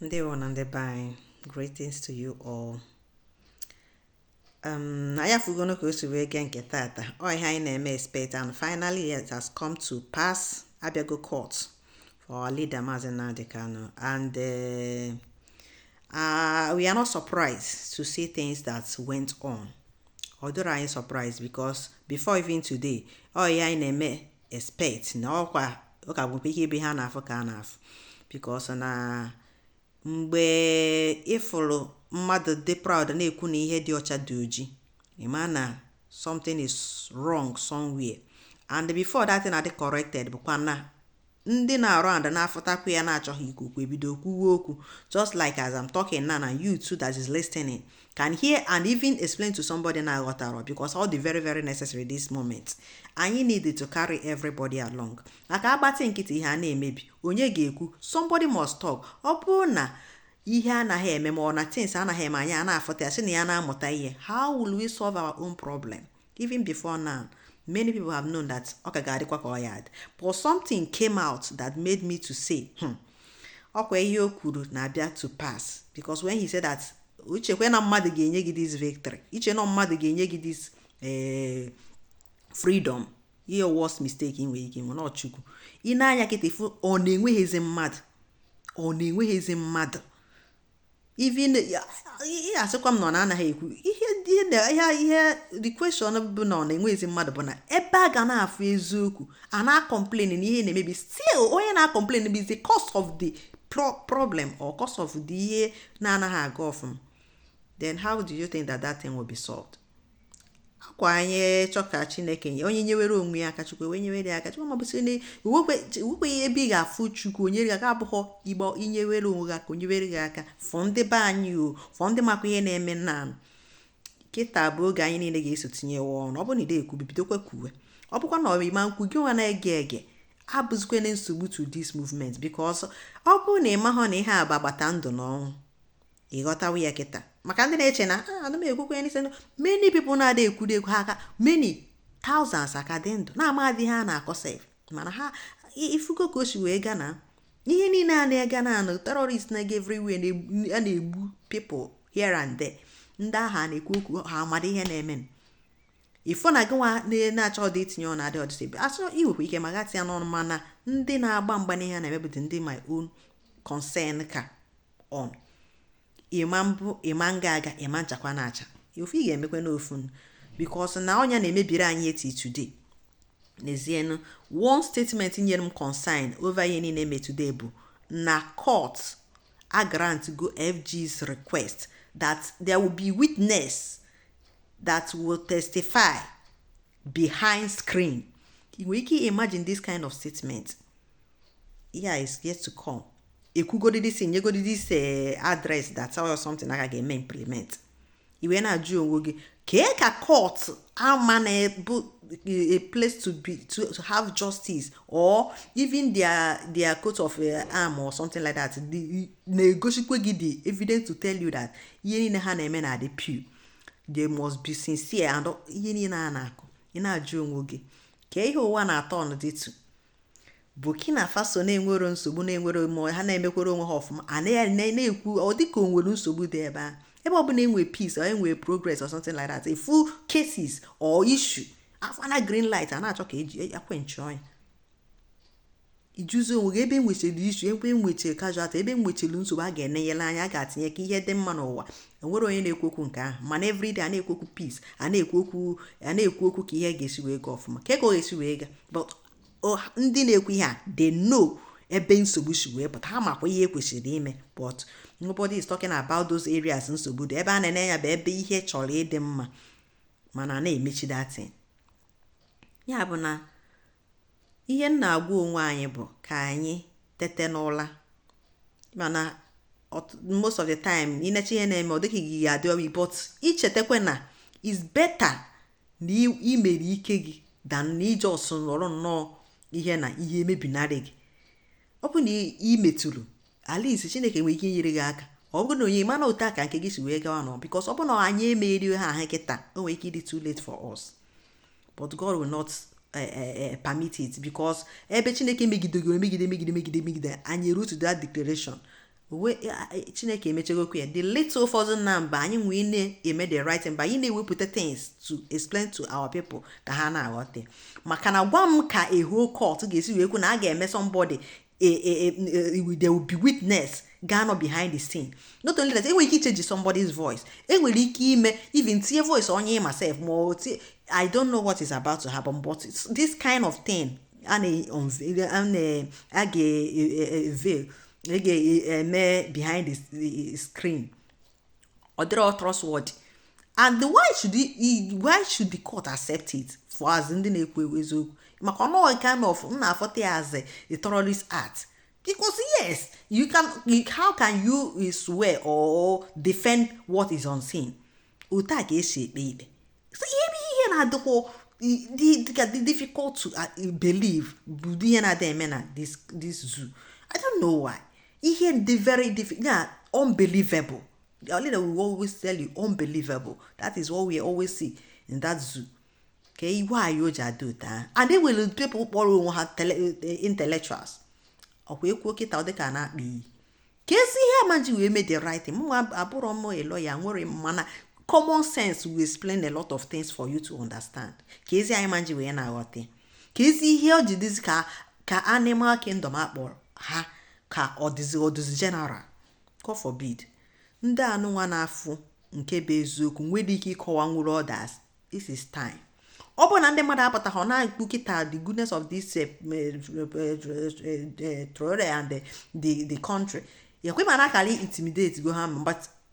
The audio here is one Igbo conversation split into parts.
ndeewo nụ ndị be anyị greetings to you all um, anyị afugonu ka o si wee gee nke tata ọ ihe anyị na-eme expect and finally it has come to pass abịago court for our leader Mazi Nnamdi Kanu and uh, uh, we are not surprised to see things that went on ọ dịrọ anyị surprise because before even today ọ ihe anyị na-eme expect na ọkwa ọ ka bụkwa ihe ebe ha na-afụ ka a na-afụ because na mgbe ịfụrụ mmadụ dị proud na-ekwu na ihe dị ọcha dị oji ịma na something is wrong somewhere and before that thing adị corrected bụkwa na ndị na-arụ and na-afụtakwu ya na-achọghị ikwu okwu ebido kwuwe okwu just like as I'm talking now and you too that is listening can hear and even explain to somebody na-aghọtarọ because ọ dị very very necessary this moment anyị need to carry everybody along maka agbatị nkịtị ihe a na-emebi onye ga-ekwu somebody must talk ọ bụrụ na ihe anaghị eme ma ọ na things anaghị eme anyị a na-afụta ya sị na ya na-amụta ihe how will we solve our own problem Even before now, many people have known that ọ ka ga-adịkwa ka ọ ya adị but something came out that made me to say hmm, ọkwa ihe o kwuru na-abịa to pass because when he said that i chekwaa na mmadụ ga-enye gị this victory i chee na mmadụ ga-enye gị this eh, freedom ihe worst mistake ị nwere ike nwe na ọ Chukwu i nee anya kịta ị fụ ọ na-enweghịzi mmadụ ọ na-enweghịzi mmadụ even asịkwa m na ọ na-anaghị ekwu ihe ihe the question bụ na ọ na-enweghịzi mmadụ bụ na ebe a ga na-afụ eziokwu a na-complain na ihe na-emebi still onye na-complain bụ the cause of the problem or cause of the ihe na-anaghị aga ọfụma then how do you think that that thing will be solved? ọkwa anyị chọọ ka chineke nye onye nyewere onwe ya aka chukwu wee nyewere ya aka chukwu mabụsị na iwekweghị ebe ị ga-afụ chukwu o nye gị aka abụghọ igba i nyewere onwe gị aka o nyewere gị aka fọ ndị be anyị for ndị makwa ihe na-eme na kịta bụ oge anyị niile ga-eso tinyewe ọnụ ọ bụ na ị da ekwu bidokwa kwuwe ọ bụkwa na ọmịma nkwu gị nwa na-ege ege abụzikwa na nsogbu to this movement because ọ bụrụ na ị mahụ na ihe a bụ agbata ndụ na ọnwụ ị ghọtawa ya kịta maka ndị na-eche na ah, ana m ekwukwe ya n'isi many people na-ada ekwuri ekwu ha aka many thousands aka dị ndụ na-amadị ihe a na-akọ sef mana ha ifugo ka o si wee gaa na ihe niile a na-ega na anụ terrorist na-ega everywhere a na-egbu people here and there ndị ahụ a na-ekwu okwu ha amada ihe na-eme ị fụ na gị nwa na-achọdị itinye ọ na-adị ọdịsị asọ i nwekwa ike ma gatị ya n'ọnụ mana ndị na-agba mgba n'ihe na-eme bụdị ndị my own concern ka ọnụ ịma mbụ ịma nga aga ịma nchakwa na-acha ofu ị ga-emekwa n'ofu because na ọnya na-emebiri anyị eti today n'ezienụ one statement nyere m concern over ihe niile eme today bụ na court a grant go FG's request that there will be witness that will testify behind screen ị nwere ike imagine this kind of statement yeah is yet to come ekwugodi this nyegodi this eh, address that tell you something a ka ga-eme implement ị wee na-ajụ onwe gị kee ka court a ma na ọ bụ a place to be to, to have justice or even their their coat of uh, arm or something like that na-egosikwa gị the evidence to tell you that ihe niile ha na-eme na-adị pure they must be sincere and ihe niile a na-akụ ị na-ajụ onwe gị kee ihe ụwa na-aturn into Burkina Faso na-enwero nsogbu na-enwere ma ha na-emekwere onwe ha ọfụma a na-ekwu ọ dịka o nwere nsogbu dị ebe a ebe ọbụla enwe peace or enwe progress or something like that a full cases or issue afụna green light a na-achọ ka eji e, aquenchụọ ya ị jụzie onwe gị ebe enwechiri issue ebe enwechiri casualty ebe enwechiri nsogbu a ga-enenyere anya a ga-atinye ka ihe dị mma n'ụwa enwero onye na-ekwu okwu nke ahụ mana everyday a na-ekwu okwu peace a na-ekwu okwu a na-ekwu okwu ka ihe ga-esi wee gaa ọfụma ka ego ga-esi wee gaa but ndị na-ekwu ihe a they know ebe nsogbu si wee pụta ha makwa ihe ekwesịrị ime but nobody is talking about those areas nsogbu dị ebe a na-ene ya bụ ebe ihe chọrọ ịdị mma mana na-emechi that thing ya bụ na ihe m na-agwa onwe anyị bụ ka anyị tete n'ụla mana most of the time ịnecha ihe na-eme ọ dịka gị ga-ada obi but ichetakwa na is better na imere ike gị than na ị just nọrọ nnọọ ihe na ihe emebinarị gị ọ bụ na imetụrụ at least Chineke nwere ike inyere gị aka ọ bụrụ na onye ịma na otu a ka nke gị si wee gawa nọ because ọ bụ na anyị emegharịha ahụ kịta o nwere ike ịdị too late for us but God will not eh, eh, eh, permit it because ebe Chineke megidegị megide megide megide megide anyị eruo to that declaration Chineke emechegokwu ya the little effort na mba anyị nwee na-eme the right mba anyị na-ewepụta things to explain to our people ka ha na-aghọta maka na gwa m ka a whole court ga-esi wee kwu na a ga-eme somebody a, a, a, a, there will be witness ga-anọ behind the scene not only that enwere ike ichange somebody's voice enwere ike ime even tinye voice onye ma sef ma o tie i don't know what is about to happen but this kind of thing a na-a ga-eveil a ga-eme behind the screen ọ dịrọ trustworthy and why should he, why should the court accept it for as ndị na-ekwu ewu eziokwu maka na ọ kind of m na-afọta ya as a terrorist act because yes you can how can you eh, swear or defend what is unseen otu a ka esi ekpe ikpe ihe bụ ihe na-adịkwa dịka dị difficult to uh, believe bụ ihe na-adị eme na this zoo i don't know why ihe dị very difficult yeah unbelievable the only that we always tell you unbelievable that is what we always see in that zoo ka igwe anyị o ji adị otu ahụ and they will people kpọrọ onwe ha eh, intellectuals ọkwa ekwuo kịta ọ dịka na-akpa iyi kezi ihe a ma ji wee mee the right thing mụnwa abụrọ m a lawyer nwere mana common sense will explain a lot of things for you to understand kezi ihe a ma ji wee na-aghọta kezi ihe o ji dịzi ka ka animal kingdom akpọrọ ha ka ọ dịzi ọ dịzi general God forbid ndị anụnwa na-afụ nke bụ eziokwu nwere ike ịkọwanwuru others this is time ọ bụrụ na ndị mmadụ apụta ha na-ekwu kịta the goodness of this eh, eh, eh, Traore and the country ọkwa ị ma na a kara intimidate go ha but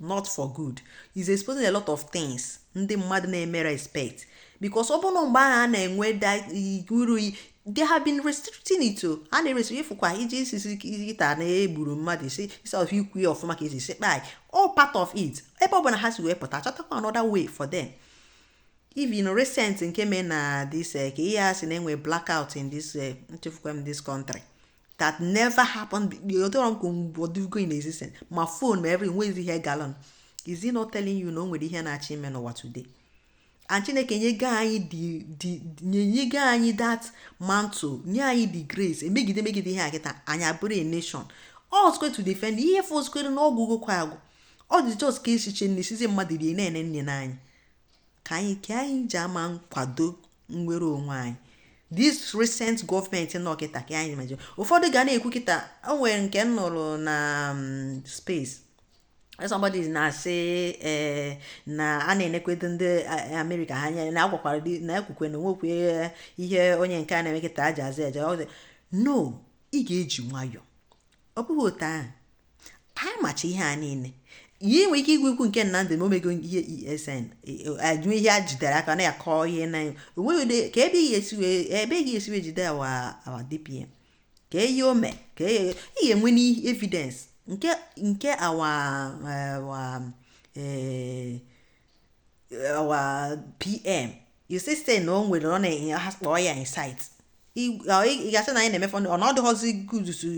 not for good it's exposing a lot of things ndị mmadụ na-eme respect because ọ bụrụ mgbe ahụ a na-enwe uru they have been restricting it o a na-restrict ị fụkwa iji sị kịta na egburu mmadụ instead of ikwu ya ọfụma ka esi sị kpai all part of it ebe ọ bụla ha si wee pụta chọtakwa another way for them even recent nke mee na this eh, ka ihe a sị na-enwe blackout in this eh, nchefukwa m this country that never happened odoro nkwu mgbodugo in existence ma phone ma every nwezi ihe gala on is it not telling you na o nwere ihe na-achọ ime n'ụwa today and chineke nyego anyị nyego anyị that mantle nye anyị the grace emegide megide ihe a kịta anyị abụrụ a nation all square to defend ihe fọzikwara na ọ gwụgokwa agwụ ọ dị just ka echiche na esizi mmadụ rie na-ene nne n'anyị ka anyị ka anyị ji ama nkwado nnwere onwe anyị this recent government nọ kịta ka anyị imagine ụfọdụ ga na-ekwu kịta o nwere nke m nụrụ na mm, space somebody na-asị ee eh, na a na-enekwedo ndị eh, amerịka ha anya na agwakwara na ekwukwe na nwekwe eh, ihe onye nke a na-eme kịta aja aza eje no ị ga-eji nwayọọ ọ bụghị otu ahụ anyị macha ihe a niile ihe nwere ike igwe ikwu nke Nnamdị ma o mego ihe ESN ajụ ihe a jidere aka na ya kọọ ihe na onweghị kee ebe ị ga-esi wee ebe ị ga-esi wee jide our our DPM kee ihe o mee ka ị ga-enwe n'ihe evidence nke nke our our ee our PM you see say na o nwere ọ na-enye ha kpọọ ya insight ị ga-asị na anyị na-emefe ọ na ọ dịghọzi good to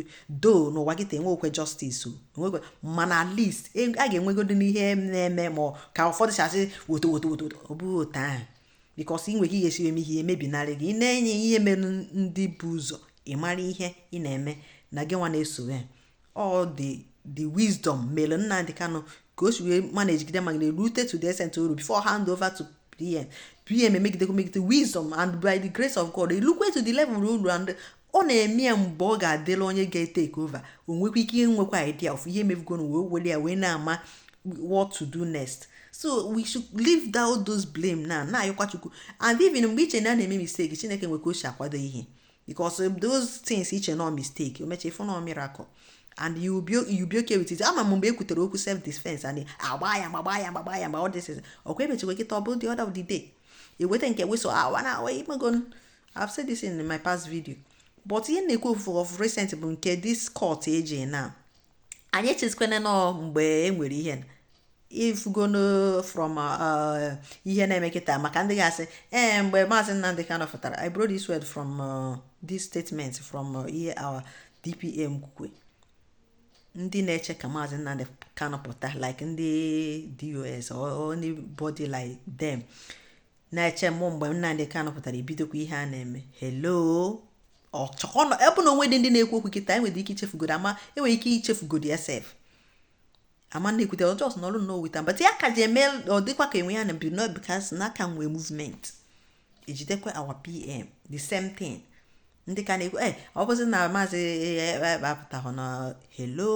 do n'ụwa gị ta enwe okwe justice onwekwe mana at least e, a ga-enwegodi n'ihe na-eme ma ka ụfọdụ si asị woto woto woto ọ bụghị otu ahụ because ị nwere ike ihe siwe m ihe emebinarị gị ị na-enye ihe mere ndị bu ụzọ ị mara ihe ị na-eme na gị nwa na-eso ya all the the wisdom mere Nnamdi Kanu ka o si wee managegide managegide rute to the extent o ru before hand over to PM PM emegidekwa megide wisdom and by the grace of God elukwe to the level o lu and ọ na-eme ya mgbe ọ ga-adịla onye ga-etake over o nwekwa ike inwekwa idea of ihe mebugonu wee were ya wee na-ama what to do next so we should leave down those blame na na-ayọkwa Chukwu and even mgbe i che na a na-eme mistake Chineke nwe ka o si akwado ihe because um, those things i che na ọ mistake o meche ị fụ na ọ miracle and you be you be okay with it ama m mgbe ekwutere okwu self defense and agba ya gbagba ya gbagba ya mgbe all this is ọkwa emechekwa kịta ọ bụrụ the order of the day eweta nke whistle awa ah, na awa imego I've said this in my past video but ihe na-ekwu of recent bụ nke this court eji na anyị echezikwana na ọ mgbe e nwere ihe ị fụgo from uh, ihe na-eme kịta maka ndị ga-asị ee eh, mgbe maazị Nnamdi Kanu fụtara I brought this word from uh, this statement from uh, ihe our DPM kwukwe ndị na-eche ka maazị Nnamdi Kanu pụta like ndị DOS or anybody like them na-eche mgbe Nnamdi Kanu pụtara ebidokwa ihe a na-eme hello ọchọkọnọ ebe na o nwedị ndị na-ekwu okwu kịta enwere ike ichefugodi ama enwere ike ichefugodi sef ama na-ekwute ọ just na ọrụ nnọọ wita but ya ka ji eme ọ dịkwa ka enwe ya na bi not because na a ka nwee movement ejidekwa our PM the same thing ndị ka na-ekwu e ọ bụzi na maazị e, e, e, apụtahụ na hello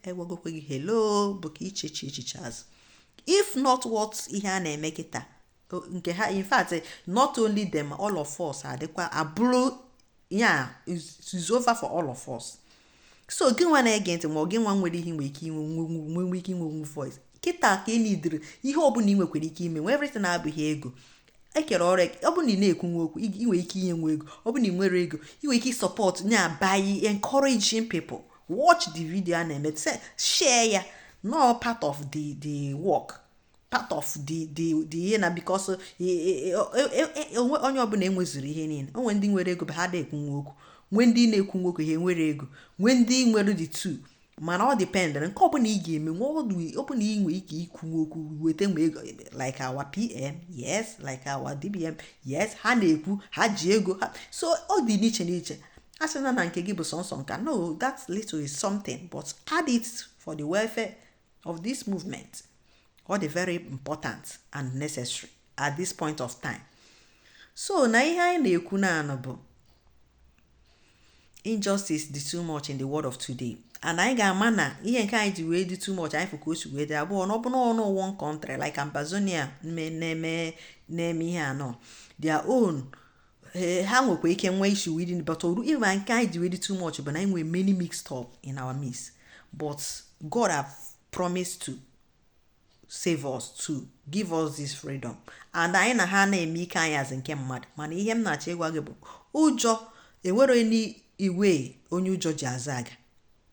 egwagokwe gị hello bụ ka ichechi echiche azụ if not what ihe a na-eme kịta nke ha in fact not only them all of us adịkwa abụrụ ya is over for all of us so gị nwa na-ege ntị ma ọ gị nwa nwere ihe nwere ike inwe nwe ike inwe nwe voice kịta ka ị needịrị ihe ọbụla ị nwekwara ike ime nwee everything abụghị ego e kere ọrụ ọ bụrụ na ị na-ekwu nwa okwu ị nwere ike inye nwa ego ọ bụrụ na ị nwere ego ị nwere ike support na by encouraging people watch the video a na-eme share ya na ọ part of the the work part of the the the ihe na because onwe onye ọbụla enwezuro ihe niile o nwee ndị nwere ego ha da ekwu nwa okwu nwee ndị na-ekwu nwa okwu ha enwero ego nwee ndị nwere the two mana ọ dependịrị nke ọbụla ị ga-eme nwa ọ bụrụ na ị nwee ike ikwu nwa okwu weta nwa ego like our PM yes like our DPM yes ha na-ekwu ha ji ego ha so ọ dị n'iche n'iche a sị na na nke gị bụ sọnsọ nka no that little is something but add it for the welfare of this movement ọ dị very important and necessary at this point of time so na ihe anyị na-ekwu naanụ bụ injustice dị too much in the world of today and anyị ga-ama na ihe nke anyị ji wee dị too much anyị fụ ka o si wee dị bụ na ọ bụrụnụ one country like Ambazonia na-eme ihe a on their own ee ha nwekwa ike nwee issue within but oru ịma nke anyị ji wee dị too much bụ na anyị nwere many mixed up in our midst but God have promised to save us to give us this freedom and anyị na ha na-eme ike anyị as in nke mmadụ mana ihe m na-achọ ịgwa gị bụ ụjọ enwere onye iwe onye ụjọ ji aza aga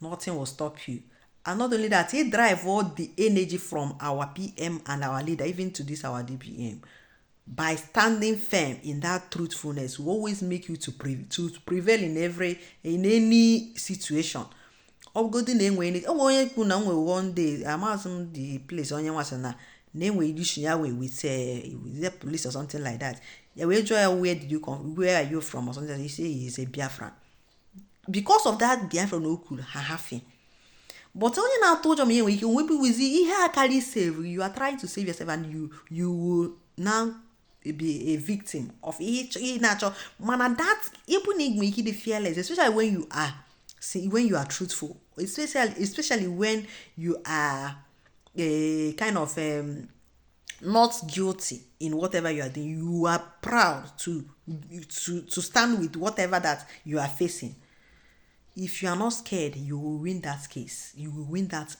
Nothing will stop you. And not only that, he drive all the energy from our PM and our leader, even to this our DPM. By standing firm in that truthfulness, will always make you to, pre- to prevail in every in any situation. ọbụgodi na enwe enwe onye kwu na nwe one day amaghịzi m the place onye nwasị na na enwe issue ya wee with the police or something like that ya wee jụọ ya where did you come where are you from or something like that he say he is a Biafran because of that biafra na o kwuru ha hafi but onye na-atụ ụjọ ma ya nwere ike onwebi wizi ihe a karị save you are trying to save yourself and you you will now be a victim of ihe ị na-achọ mana that ịbụ na i nwee ike dị fearless especially when you are see when you are truthful especially especially when you are a eh, kind of um, not guilty in whatever you are doing you are proud to to to stand with whatever that you are facing if you are not scared you will win that case you will win that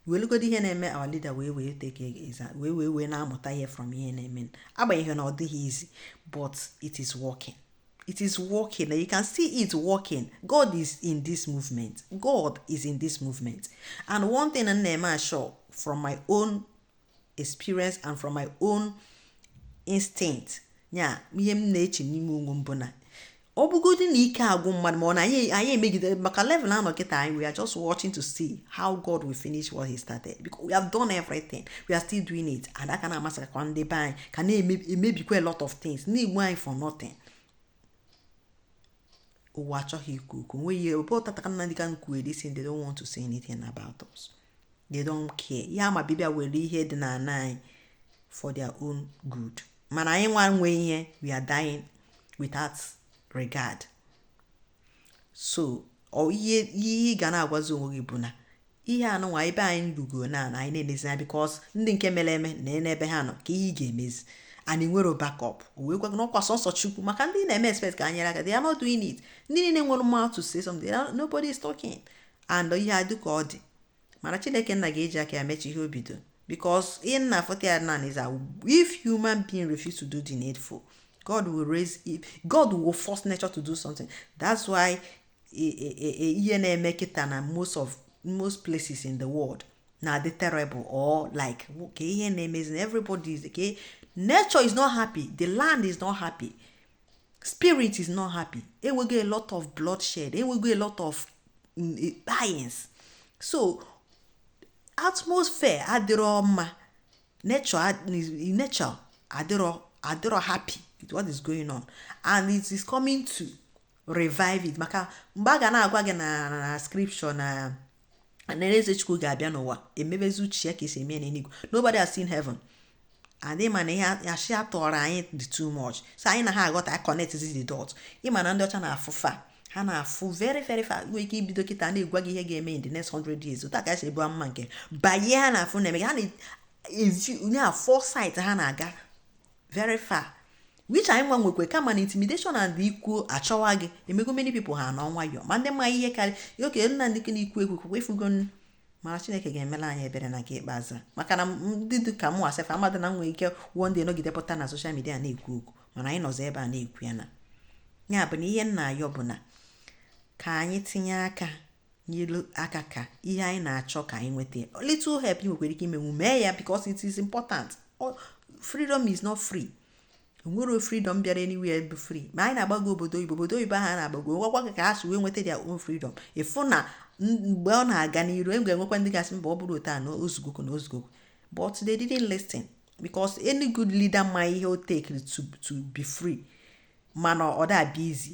welugodi ihe na-eme our leader wee wee take exam wee wee wee na-amụta ihe from ihe na-eme agbanyeghị na ọ dịghị easy but it is working it is working you can see it working god is in this movement god is in this movement and one thing na-eme ashọ from my own experience and from my own instinct ya ihe m na-eche n'ime onwe m bụ na ọ bụgodị na ike agwụ mmadụ ma ọ na anyị anyị emegide maka level a nọ kịta anyị we are just watching to see how God will finish what he started because we have done everything we are still doing it and a ka na-massacre ndị be anyị ka na-emebikwa a lot of things na-egbu anyị for nothing ụwa achọghị ikwu okwu nweghị ebe ọ tataka nna ndị ka nkwuere si they don't want to say anything about us they don't care ihe ha ma bụ ịbịa were ihe dị n'anị for their own good mana anyị nwa nwe ihe we are dying without regard so ihe ị ga na-agwazi onwe gị bụ na ihe anụnwa ebe anyị rugo na na anyị na-enezi anya because ndị nke mere eme na n'ebe ha nọ ka ihe ị ga-emezi and nwere backup wee gwa na ọkwa sọsọ chukwu maka ndị na-eme expect ka ha nye aka they are not doing it ndị niile nwere mouth to say something nobody is talking and ihe a dị ka ọ dị mana chineke nna ga-eji aka ya mechi ihe o bido because ihe nna afọta ya nan is if human being refuse to do the needful god will raise it. god will force nature to do something that's why e, e, e, ihe na-eme kịta na most of most places in the world na-adị terrible or like ka ihe na-emezi everybody is okay nature is not happy the land is not happy spirit is not happy enwego a lot of bloodshed enwego a lot of mm, eh, dyings so atmosphere adịrọ mma nature nature adịrọ adịrọ happy with what is going on and it is coming to revive it maka mgbe a ga na-agwa gị na scripture na anaeze chukwu ga-abịa n'ụwa emebezi uche ya ka esi eme n'eluigwe nobody has seen heaven and ị ma na ihe ashị a tụụrụ anyị dị too much so anyị anaha aghọta anyị connect the dot ị ma na ndị ọcha na-afụ far ha na-afụ very very far nwee ike ibido kịta na-egwa gị ihe ga-eme in the next 100 years otu aka esi ebu mma nke banye ha na-afụ na-eme ha na-ezi onye a foresight ha na-aga very far which anyị nwa nwekwe kama na intimidation and i kwuo achọwa gị emego many people ha nọ nwayọ ma ndị ma ihe karị oke nna ndị na-ekwu ekwu kwukwe ị fụgo mana chineke ga-emela anyị ebere na nke ikpeazụ maka na ndị dị ka mụwa self amadị na nwee ike one day nọgide pụta na social media na-ekwu okwu mana anyị nọzi ebe a na-ekwu ya na ya bụ na ihe m na-ayọ bụ na ka anyị tinye aka nyelu aka ka ihe anyị na-achọ ka anyị nweta little help ị nwekwara ike imenwu mee ya because it is important freedom is not free o nwero freedom bịara anywhere bụ free ma anyị na-agbago obodo oyibo obodo oyibo anyị na-agbago gụọkwa ka ha si wee nweta their own freedom ị fụ na mgbe ọ na-aga n'iru e ga-enwekwa ndị ga-asị mba ọ bụrọ otu a na o zugokwa na o zugokwa but they didn't listen because any good leader ma ihe o take to to be free mana ọ da-abịa easy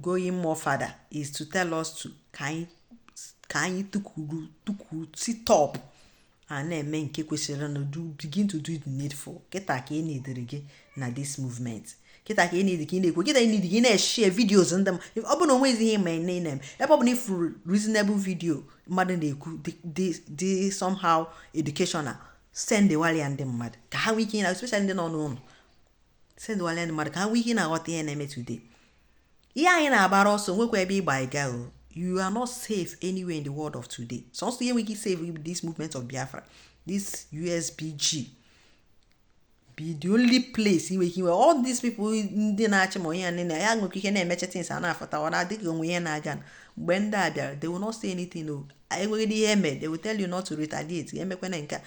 going more further is to tell us to ka anyị ka anyị tukuru tukuru sit up a na-eme nke kwesịrị na do begin to do the needful kịta ka e needịrị gị na this movement kịta ka e needị ka ị na-ekwu kịta e needị ka ị na-eshare videos ndị m ọ bụ na o nwezighị ma ị na-eme ebe ọ bụ na ị fụrụ reasonable video mmadụ na-ekwu dị somehow educational sendụwalị ya ndị mmadụ ka ha nwee ike na especially ndị nọ n'ụlọ sendụwala ya ndị mmadụ ka ha nwee ike na-aghọta ihe na-eme today ihe anyị na-agbara ọsọ nwekwa ebe ị gbaga you are not safe anywhere in the world of today sọsọ ihe nwere ike save bụ this movement of Biafra this USBG bụ the only place ị nwee ike inwe all these people ndị na-achị ma onye ya nile ya nwekwa ihe na-emecha things a na-afụta ọ na-adịghị onwe ihe na-aga mgbe ndị a bịara they will not say anything o nweghịdị ihe eme they will tell you not to retaliate emekwana nke a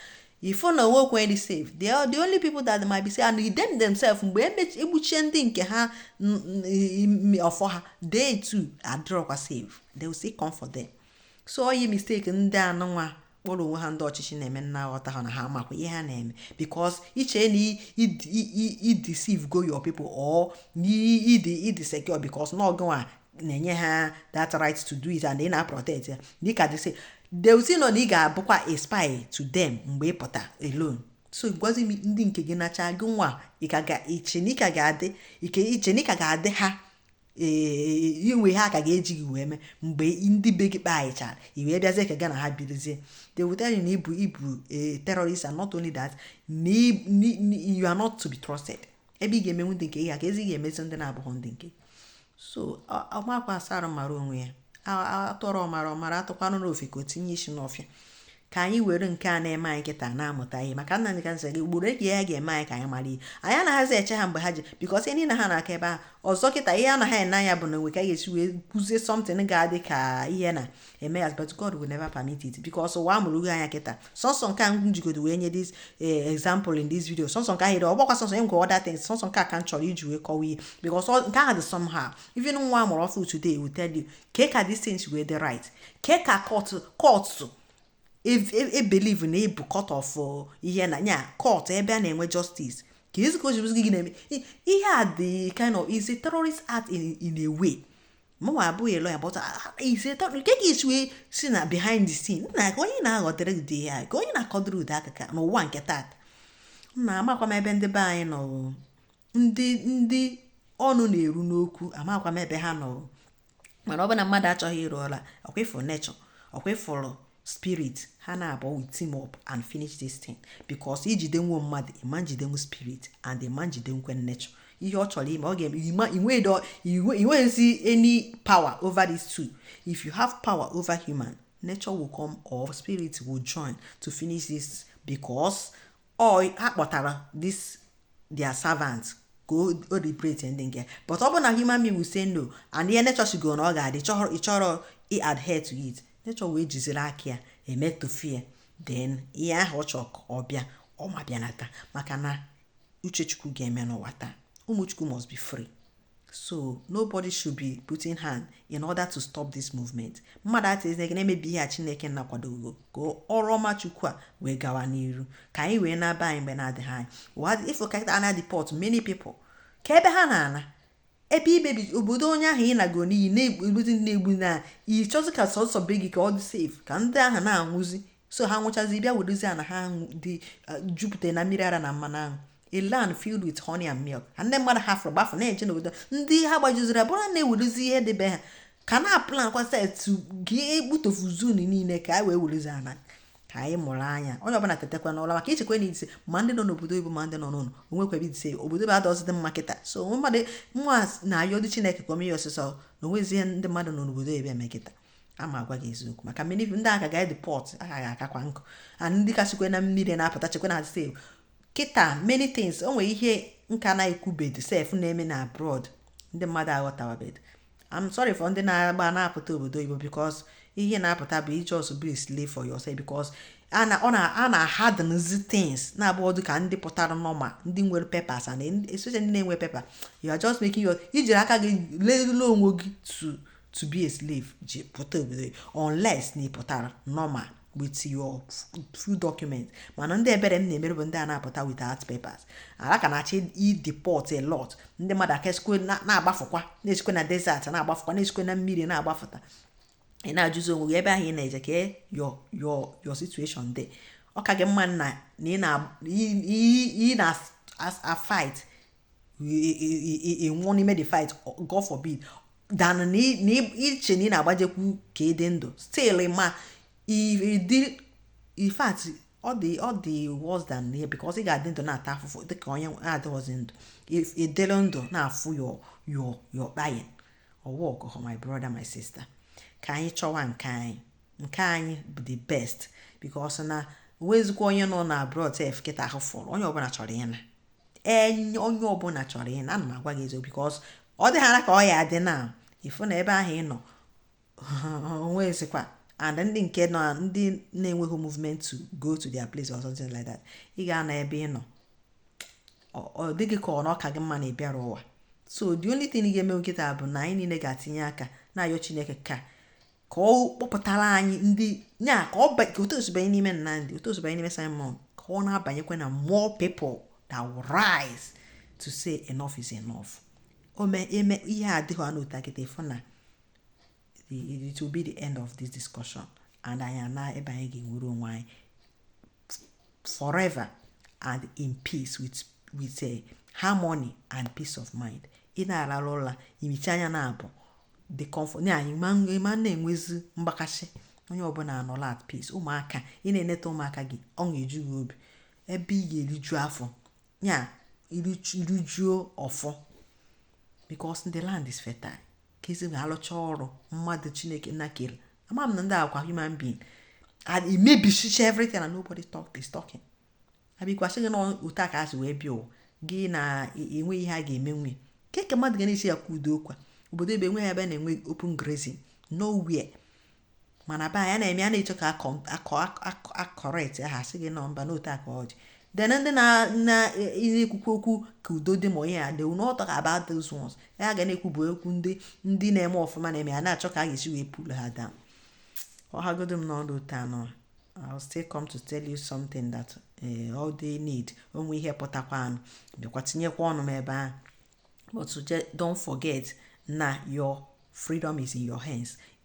ị fụ na o nwerọkwa onye dị safe they are the only people that might be safe and them themselves mgbe e gbuchaa ndị nke ha ọ fọ ha they too adịrọkwa safe they will still come for them so ọ ya mistake ndị anụnwa kpọrọ onwe ha ndị ọchịchị na-eme m na-aghọta ha na ha makwa ihe ha na-eme because i che na i deceivego your people or ị dị secure because na ọ gị nwa na-enye ha that right to do it and ị na-protect ya dịka they still they will still know na ị ga-abụkwa a spy to them mgbe ị pụta alone so gwazi m ndị nke gị nachaa gị nwa i che na ị ka ga-adị ike i che na ị ka ga-adị ha ee inwe ihe ha ka ga-eji gị wee mee mgbe ndị be gị kpaghịchara i wee bịazie ka gị na ha birizie they will tell you na ị bụ ị bụ terrorist and not only that you are not to be trusted ebe ị ga-emenwu ndị nke gị keezi ihe ị ga-emezi ndị na-abụghị ndị nke so ọ ma akwa asa arụ mara onwe ya a tụọrọ ọmara ọ mara a tụkwanụrụ ofeke o tinye isi n'ọfịa ka anyị were nke a na-eme anyị kịta na-amụta ihe maka na anyị ka nsị gị ugboro eji ya ga-eme anyị ka anyị mara ihe anyị anaghịzi eche ha mgbe ha ji because ihe niile ha na-aka ebe ahụ ọzọ kịta ihe a na-ene anya bụ na e nwee ka a ga-esi wee kụzie something ga-adị ka ihe na eme ya but God will never permit it because ụwa amụrụgo anya kịta sọsọ nke ahụ m jigodo wee nye this eh, example in this video sọsọ nke ahịrị ọ bụghịkwa sọsọ e nwee other things sọsọ nke a ka m chọrọ iji wee kọwa ihe because nke ahụ dị somehow even nwa a mụrụ ọfụ today will tell you ke ka these things wee dị right ke ka court court e believe e, e na ọ bụ court of uh, ihe na nya court ebe a na-enwe justice keezi ka o jizi gị na-eme ihe a dị kind of is a terrorist act in, in a way mụnwa abụghị lawyer but ize tọnụ nke ka isi wee sị na behind the scene nna ka onye na-aghọtara ụdị ya ka onye na-akọdịrị ụdị akụkọ n'ụwa nke taata nna amakwa m ebe ndị be anyị nọ ndị ndị ọnụ na-eru n'okwu amakwa m ebe ha nọ mana ọ bụ na mmadụ achọghị ịrụ ọlụ a ọ kwa ị fụrụ nature ọ kwa ị fụrụ spirit ha naabọ will team up and finish this thing because i jidenwuo mmadụ ị ma njidenwu spirit and ị ma njidenwukwe nature ihe ọ chọrọ ime ọ ga-eme i nweghịzi any power over these two if you have power over human nature will come or spirit will join to finish this because ọ ha kpọtara this their servant ka o liberate ndị nke but ọ bụ na human being will say no and ihe nature sịgo na ọ ga-adị ị chọrọ ị adhere to it nature wee jiziri aka ya emetofie then ihe ahụ ọ chọrọ ka ọ bịa ọ ma bịanata maka na uche Chukwu ga-eme n'ụwa taa ụmụ Chukwu must be free So nobody should be putting hand in order to stop this movement. Mmadụ atịzi gị na-emebi ihe a Chineke Nna kwadogo ka ọrụ ọma Chukwu a wee gawa n'iru ka anyị wee naa be anyị mgbe na-adịghị anya ụwa ị fụ kịta a na-edeport many people kee ebe ha na-ana ebe i mebi obodo onye ahụ ị na-agụ n'iyi na-egbuzi na-egbu na ị chọzi ka sọsọ be gị ka ọ dị safe ka ndị ahụ na-anwụzi so ha nwụchazi bịa wedozi ana ha dị uh, jupụta na mmiri ara na mmanụ aṅụ a land filled with honey and milk and ndị mmadụ hafụrụ gbafụ na-eje n'obodo ndị ha gbajuziri abụrụ na-ewedozi ihe dị be ha ka na-aplankwazi etu ga-egbutofuzi ụnụ niile ka a wee wedozi ana ka anyị mụrụ anya onye ọbụla tetakwa n'ụla maka i chekwa na ị safe ma ndị nọ n'obodo oyibo ma ndị nọ n'ụlọ o nwekwa ebe ị safe obodo oyibo adịzighị mma kịta so mmadụ nwa na-ayọdị Chineke ka o mee ya ọsịsọ na o nwezi ihe ndị mmadụ nọ n'obodo oyibo eme kịta ana m agwa gị eziokwu maka many ndị a ka ga-edeport aka ga-akakwa nkụ and ndị ka sikwe na mmiri na-apụta chekwa na sef kịta many things o nwere ihe m ka na-ekwubedi sef na-eme na abroad ndị mmadụ aghọtawabedi I'm sorry for ndị na-agba na-apụta obodo oyibo because ihe na-apụta bụ ị just be a slave for yourself because a na-ahardenzi things na-abụrọ dịka ndị pụtara normal ndị nwere papers and especially ndị na-enwe paper you are just making your i jiri aka gị leruo onwe gị to to be a slave ji pụta obodo unless na ị pụtara normal with your full document mana ndị ebere m na-emere bụ ndị a na-apụta without papers ala ka na-achọ ideport a lot ndị mmadụ a ka esikwe na-agbafụkwa na-esikwe na desert na-agbafụkwa na-esikwe na mmiri na-agbafụta ị na-ajụzi onwe gị ebe ahụ ị na-eje ka your your your situation dị ọ ka gị mma na ị na-afight ị nwụọ n'ime the fight God forbid than na i che na ị na-agbajekwu ka ị dị ndụ still ma ịdị in fact ọ dị ọ dị worse than here because ị ga-adị ndụ na-ata afụfụ dịka onye adịghịzi ndụ ị dịrị ndụ na-afụ your your your pain ọwa ọgụgụ my brother my sister ka anyị chọwa nke anyị nke anyị bụ the best because na nwezikwa onye nọ na abroad sef kịta ahụ fọrọ onye ọbụla chọrọ ịna enye onye ọbụla chọrọ ịna ana m agwa gị eziokwu because ọ dịghara ka ọ ya-adị na ị fụ na ebe ahụ ị nọ o nwezikwa and ndị nke nọ ndị na-enweghị movement to go to their place or something like that ị ga-anọ ebe ị nọ ọ dị gị ka ọ na ọ ka gị mma na ị bịara ụwa so the only thing ị ga-eme kịta bụ na anyị niile ga-atinye aka na-ayọ Chineke ka ka ọ kpọpụtara anyị ndị nya ka ọ ka otu o si banye n'ime Nnamdi otu o si banye n'ime Simon ka ọ na-abanyekwa na more people that will rise to say enough is enough ome eme ihe adịghị anụ ụta kịta ị fụ na it will be the end of this discussion and anyị naa be anyị ga-enwere onwe anyị forever and in peace with with a eh, harmony and peace of mind ị na-arara ụra i michie anya na-abụ the comfort na anyị ama na-enwezi mgbakasị onye ọbụla anọla at peace ụmụaka ị na-eneta ụmụaka gị ọṅụ eju gị obi ebe ị ga-eriju afọ ya erijuo afọ because the land is fertile ka e si wee alụcha ọrụ mmadụ Chineke na kere ama m na ndị a kwa human being and emebichicha everything and nobody talk is talking a bịakwa sị gị na otu a ka a si wee bịa ụwa gị na enwe ihe a ga-eme nwe keke mmadụ ga na-esi ya kwụdo ọ kwa obodo ebe enweghị ebe na-enwe open grazing nowhere mana be anyị a na-eme a na-eche ka akọ akọ akọ a correct ha sị gị na mba na otu a ka ọ dị then ndị na na na-ekwukwu okwu ka udo dị ma ihe a they will not talk about those ones ihe ha ga na-ekwu bụ okwu ndị ndị na-eme ọfụma na-eme a na-achọ ka a ga-esi wee pull ha down ọ hagodo m n'ọdụ ụtọ anọ I'll still come to tell you something that eh, all they need o nwee ihe pụtakwanụ bịakwa tinyekwa ọnụ m ebe ahụ but just don't forget na your freedom is in your hands